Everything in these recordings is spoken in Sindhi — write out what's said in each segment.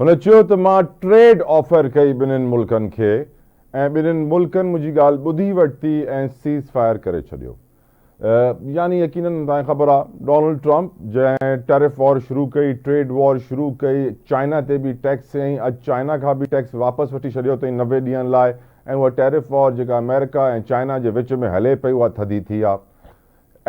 هن چيو ته مان ٽريڊ آفر ڪئي ٻنهن ملڪن کي ۽ ٻنهن ملڪن منهنجي ڳالهه ٻڌي ورتي ۽ سيز فائر ڪري ڇڏيو. يعني يقينن توهان کي خبر آهي ڊونلڊ ٽرمپ جنهن ٽيرف وار شروع ڪئي، ٽريڊ وار شروع ڪئي، چائنا تي به ٽيڪس هنئي، اڄ چائنا کان به ٽيڪس واپس وٺي ڇڏيو اٿئي نوي ڏينهن لاء ۽ اها ٽيرف وار جيڪا آمريڪا ۽ چائنا جي وچ ۾ هلي پئي اها ٿڌي ٿي آهي.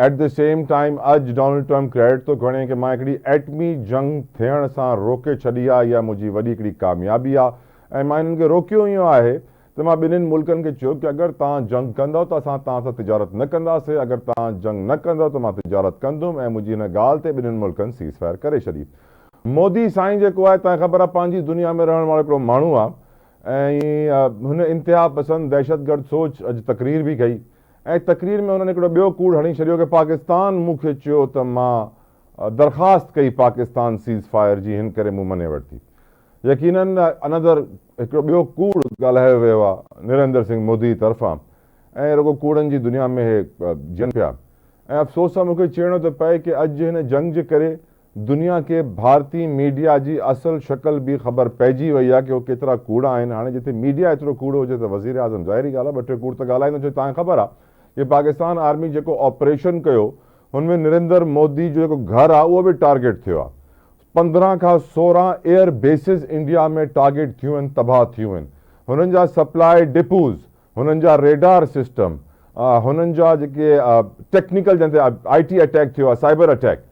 ايٽ دي سيم ٽائيم اڄ ڊونلڊ ٽرمپ ڪريڊٽ ٿو کڻي ڪي مان هڪڙي ايٽمي جنگ ٿيڻ سان روڪي ڇڏي آ اها منهنجي وڏي هڪڙي ڪاميابي آ ۽ مان هنن کي روڪيو ايئن آهي ته مان ٻنهين ملڪن کي چيو ڪي اگر توهان جنگ ڪندؤ ته اسان توهان سان تجارت نه ڪنداسي اگر توهان جنگ نه ڪندؤ ته مان تجارت ڪندم ۽ منهنجي هن ڳالهه تي ٻنهين ملڪن سيز فائر ڪري ڇڏي مودي سائين جيڪو آهي توهان کي خبر آ پنهنجي دنيا ۾ رهڻ وارو هڪڙو ماڻهو آ ۽ هن انتها پسند دهشت گرد سوچ اڄ تقرير به ڪئي ۽ تقرير ۾ هنن هڪڙو ٻيو ڪوڙ هڻي ڇڏيو ڪه پاڪستان مون کي چيو ته مان درخواست ڪئي پاڪستان سيز فائر جي هن ڪري مون مڃي ورتي يقيناً انندر هڪڙو ٻيو ڪوڙ ڳالهايو ويو آهي نريندر سنگهه مودي طرفان ۽ رڳو ڪوڙن جي دنيا ۾ هي جيئن پيا ۽ افسوس سان مون کي چئڻو ٿو پئي ڪه اڄ هن جنگ جي ڪري دنيا کي ڀارتي ميڊيا جي اصل شڪل به خبر پئجي وئي آهي ڪي هو ڪيترا ڪوڙا آهن هاڻي جتي ميڊيا ايترو ڪوڙو هجي ته وزيراعظم ظاهري ڳالهه آهي ٻه ٽي ڪوڙ ته ڳالهائيندو ڇو جو تهان کي خبر آهي ڪي پاڪستان آرمي جيڪو آپريشن ڪيو هن ۾ نريندر مودي جو جيڪو گهر آهي اهو به ٽارگيٽ ٿيو آهي پندرهن کان سورهن ايئر بيسز انڊيا ۾ ٽارگيٽ ٿيون آهن تباهه ٿيون آهن هنن جا سپلاء ڊپوز هنن جا ريڊار سسٽم هنن جا جيڪي ٽيڪنيڪل جنهن تي آئي ٽي اٽيڪ ٿيو آهي سائبر اٽيڪ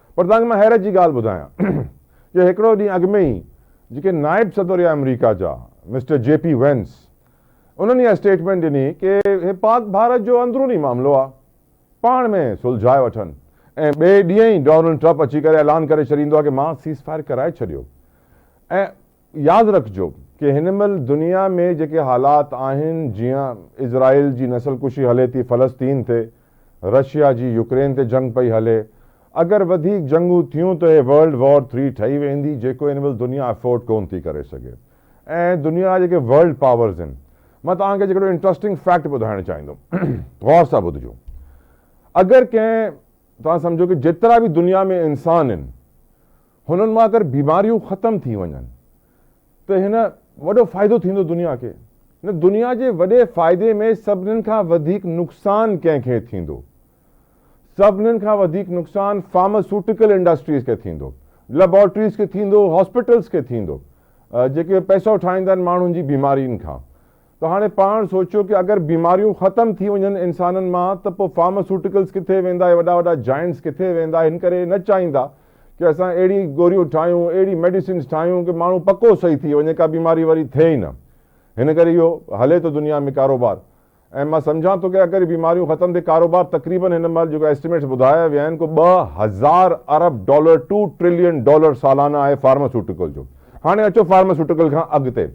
پر توهان کي مان حيرت جي ڳالهه ٻڌايان جو هڪڙو ڏينهن اڳ ۾ ئي جيڪي نائب صدر هيا آمريڪا جا مسٽر جي پي وينس انهن اها اسٽيٽمينٽ ڏني ڪي هي پاڪ ڀارت جو اندروني معاملو آ پاڻ ۾ سلجهائي وٺن ۽ ٻئي ڏينهن ئي ڊونلڊ ٽرپ اچي ڪري اعلان ڪري ڇڏيندو آ ڪي مان سيز فائر ڪرائي ڇڏيو ۽ ياد رکجو ڪي هن مهل دنيا ۾ جيڪي حالات آهن جيئن اسرائيل جي نسل ڪشي هلي ٿي فلسطين تي، رشيا جي يوڪرين تي جنگ پئي هلي، اگر وڌيڪ جنگون ٿيون ته هي ورلڊ وار ٿري ٺهي ويندي جيڪو هن مهل دنيا افورڊ ڪون ٿي ڪري سگهي ۽ دنيا جا جيڪي ورلڊ پاورز آهن مان توهان کي هڪڙو انٽرسٽنگ فيڪٽ ٻڌائڻ چاهيندم غور سان ٻڌجو اگر ڪنهن توهان سمجهو ڪي جيترا به دنيا ۾ انسان آهن هنن مان اگر بيماريون ختم ٿي وڃن ته هن وڏو فائدو ٿيندو دنيا کي نه دنيا جي وڏي فائدي ۾ سڀنن کان وڌيڪ نقصان ڪنهن کي ٿيندو سڀنن کان وڌيڪ نقصان فارماسوٽيڪل انڊسٽريز کي ٿيندو ليبارٽريز کي ٿيندو هاسپيٽلز کي ٿيندو جيڪي پئسو ٺاهيندا آهن ماڻهن جي بيمارين کان ته هاڻي پاڻ سوچيو ڪي اگر بيماريون ختم ٿي وڃن انسانن مان ته پو فارماسوٽيڪلز ڪٿي ويندا هي وڏا وڏا جائنٽس ڪٿي ويندا هن ڪري نه چاهيندا ڪي اسان اهڙي گوريون ٺاهيون اهڙي ميڊيسنز ٺاهيون ڪي ماڻهو پڪو صحيح ٿي وڃي ڪا بيماري وري ٿئي ئي نه هن ڪري اهو هلي ٿو دنيا ۾ ڪاروبار ۽ مان سمجهان ٿو ڪي اگر بيماريون ختم ٿي ڪاروبار تقريبن هن مهل جيڪو اسٽيميٽس ٻڌايا ويا آهن ڪو ٻه هزار ارب ڊالر ٽو ٽريلين ڊالر سالانه آهي فارماسوٽيڪل جو هاڻي اچو فارماسوٽيڪل کان اڳتي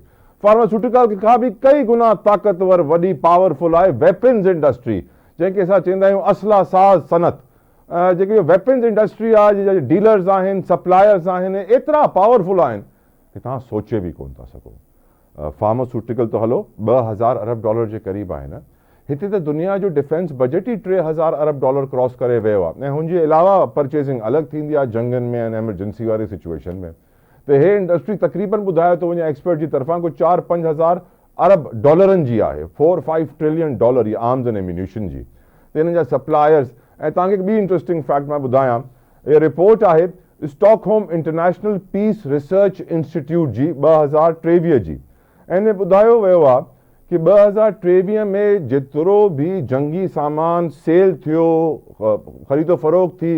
فارماسيوٽيڪل کي کان به ڪئي گنا طاقتور وڏي پاور فل آهي ويپنز انڊسٽري جنهن کي اسان چيندا آهيون اسلحه ساز صنعت جيڪي اهي ويپنز انڊسٽري آهي جي جا ڊيلرز آهن سپلائرز آهن ايترا پاور فل آهن ڪي توهان سوچي به ڪون ٿا سگهو فارماسيوٽيڪل ته هلو ٻه هزار ارب ڊالر جي قريب آهي نه هتي ته دنيا جو ڊفينس بجيٽ ئي ٽي هزار ارب ڊالر ڪراس ڪري ويو آهي ۽ هن جي علاوه پرچيزنگ الڳ ٿيندي آهي جنگن ۾ ۽ ايمرجنسي واري سچويشن ۾ ته هي انڊسٽري تقريبن ٻڌايو ٿو وڃي ايڪسپرٽ جي طرفان ڪو چار پنج هزار ارب ڊالرن جي آهي فور فائيو ٽرلين ڊالر جي آرمز اينڊ ايميونيشن جي ته انهن جا سپلائرز ۽ توهان کي هڪ ٻي انٽرسٽنگ فيڪٽ مان ٻڌايان هي رپورٽ آهي Stockholm International Peace Research Institute جي ٻه هزار ٽيويهه جي ۽ ان ۾ ٻڌايو ويو آهي ڪي ٻه هزار ٽيويهه ۾ جيترو به جنگي سامان سيل ٿيو خريد و فروخت ٿي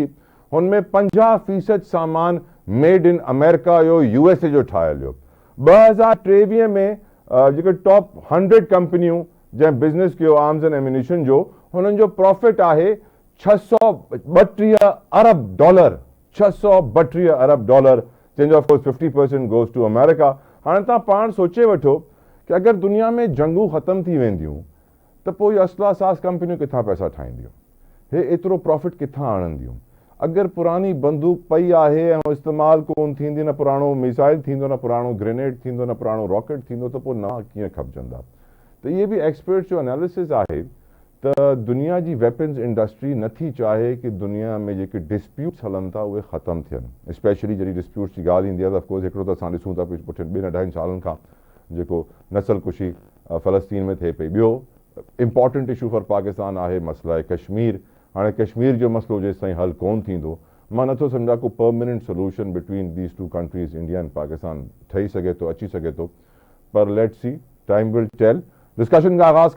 هن ۾ پنجاهه فيصد سامان ميڊ ان آمريڪا جو يو ايس اي جو ٺاهيل هيو. ٻه هزار ٽيويهه ۾ جيڪي ٽاپ هنڊريڊ ڪمپنيون جنهن بزنس ڪيو آرمز اينڊ ايمونيشن جو هنن جو پرافٽ آهي ڇهه سؤ ٻٽيهه ارب ڊالر ڇهه سؤ ٻٽيهه ارب ڊالر جنهن جو of course fifty percent goes to آمريڪا هاڻي توهان پاڻ سوچي وٺو ڪي اگر دنيا ۾ جنگون ختم ٿي وينديون ته پوء اهي اسلحا ساز ڪمپنيون ڪٿان پئسا ٺاهينديون؟ هي ايترو پرافٽ ڪٿان آڻنديون؟ اگر پراڻي بندوق پئي آهي ۽ اها استعمال ڪون ٿيندي، نه پراڻو ميزائل ٿيندو، نه پراڻو گرينيڊ ٿيندو، نه پراڻو راڪيٽ ٿيندو ته پوء نوان ڪيئن کپجندا؟ ته اهي به ايڪسپرٽس جو اناليسز آهي ته دنيا جي ويپنز انڊسٽري نه ٿي چاهي ڪي دنيا ۾ جيڪي ڊسپيوٽس هلن ٿا اهي ختم ٿين اسپيشلي جڏهن ڊسپيوٽس جي ڳالهه ايندي آهي ته اف ڪورس هڪڙو ته اسان ڏسون ٿا پڇين ٻن اڍائين سالن کان جيڪو نسل ڪشي فلسطين ۾ ٿئي پئي. ٻيو امپارٽنٽ اشو فار پاڪستان آهي مسئله ڪشمير. هاڻي ڪشمير جو مسئلو جيستائين حل ڪون ٿيندو مان نٿو سمجهان ڪو permanent solution between these two countries India and Pakistan ٺهي سگهي ٿو اچي سگهي ٿو پر let's see time will tell. Discussion کي آغاز